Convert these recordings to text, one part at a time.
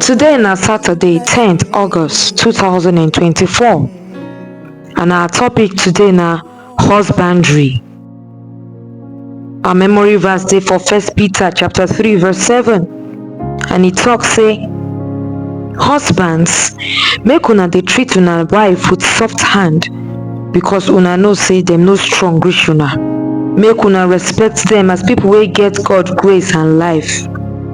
Today na Saturday 10th August 2024 and our topic today na husbandry. Our memory verse dey for First Peter chapter 3 verse 7 and e talk say husbands make una dey treat una wife with soft hand because una know say dem no strong reach una. Make una respect dem as people wey get God grace and life.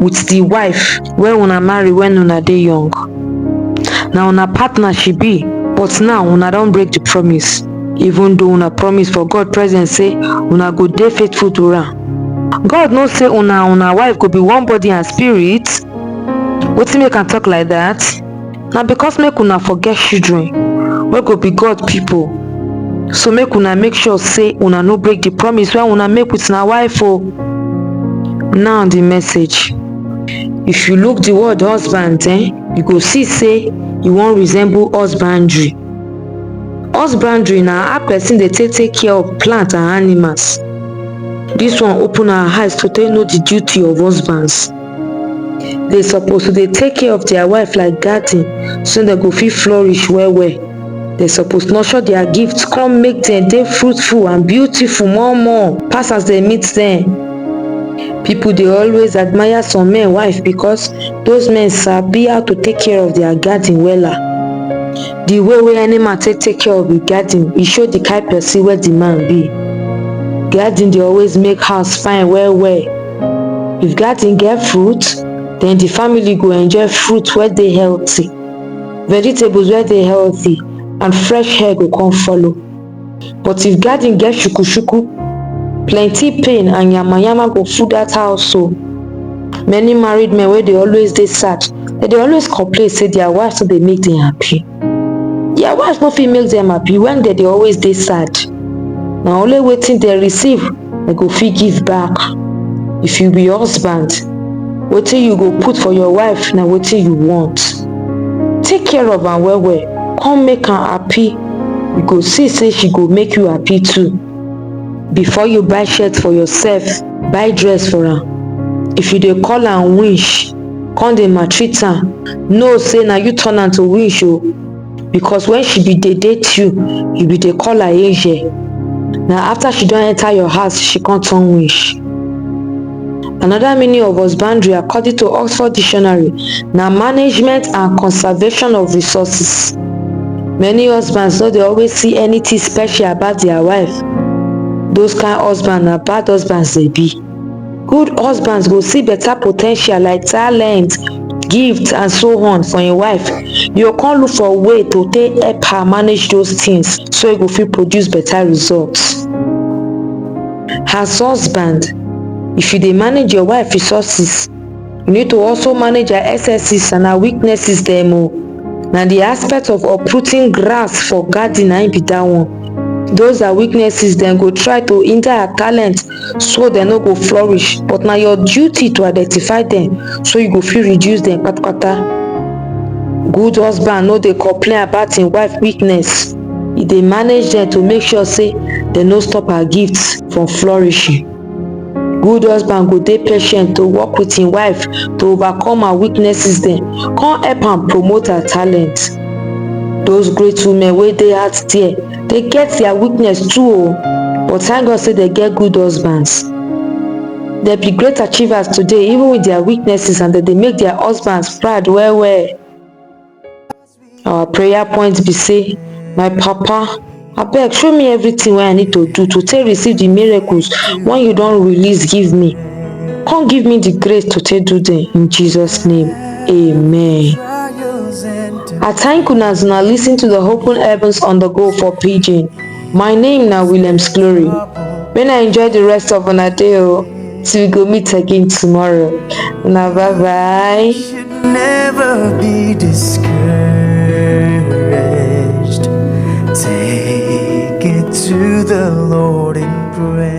with di wife wey una marry wen una dey young, na una partner she be but now una don break di promise even though una promise for God presence sey una go dey faithful to am. God know sey una and una wife go be one body and spirit, wetin make am talk like dat? na because make una for get children wey go be God people. So make una make sure say una no break the promise wey una make with una wife o. Now the message. If you look the word husband eh, you go see say e wan resemble husbandry. Husbandry na how person dey take take care of plant and animals. This one open our eyes to take know the duty of husbands. dey suppose to dey take care of their wife like garden so dem go fit flourish well well dem suppose nurture their gifts come make dem dey fruitful and beautiful more more pass as dem meet dem people dey always admire some men wife because those men sabi how to take care of their garden wella the way wey any man take take care of him garden e show the kind person wey the man be garden dey always make house fine well well If garden get fruit, then the family go enjoy fruit wey dey healthy, vegetables wey dey healthy and fresh air go come follow. But if garden get shuku shuku, plenty pain and yama yama go full that house o. Many married men wey dey always dey sad, dem dey always complain say their wives no dey make dem happy. their wife no fit make dem happy when dem dey always dey sad na only wetin dem receive dem go fit give back if you be husband wetin you go put for your wife na wetin you want take care of am well well come make am happy you go see say she go make you happy too before you buy shirt for yourself buy dress for am if you dey call am winch come dey maltreat am know say na you turn am to wish o because when she be dey date you you be dey call her angel na after she don enter your house she come turn wish another meaning of husbandry according to oxford dictionary na management and conservation of resources many husbands no dey always see anything special about their wife those kind husband na bad husbands dey be Good husbands go see better potential like talent, gift and so on for im wife, e go come look for way to take help her manage those things so e go fit produce better results. As husband, if you dey manage your wife resources, you need to also manage her excesses and her weaknesses dem o. Na the aspect of uprooting grass for garden na im be that one. Those her weaknesses dem go try to hinder her talent so dem no go flourish but na your duty to identify dem so you go fit reduce dem patapata good husband no dey complain about im wife weakness e dey manage dem to make sure say dem no stop her gifts from flourishing good husband go dey patient to work with im wife to overcome her weaknesses dem come help am promote her talent those great women wey dey out there dey get their weakness too o but thank God say dey get good husbands. Dem be great achievers today even with their weaknesses and dem dey make their husbands proud well well. Our prayer point be say my papa abeg show me everything wey I need to do to take receive the miracles wey you don release give me come give me the grace to take do them in Jesus name. Amen. I thank una as una lis ten to the Open Heavens on the Go for Pidgin. My name na Williams Glory. May una enjoy the rest of una day o till we go meet again tomorrow. Una bye bye. should never be discouraged. Take it to the Lord in prayer.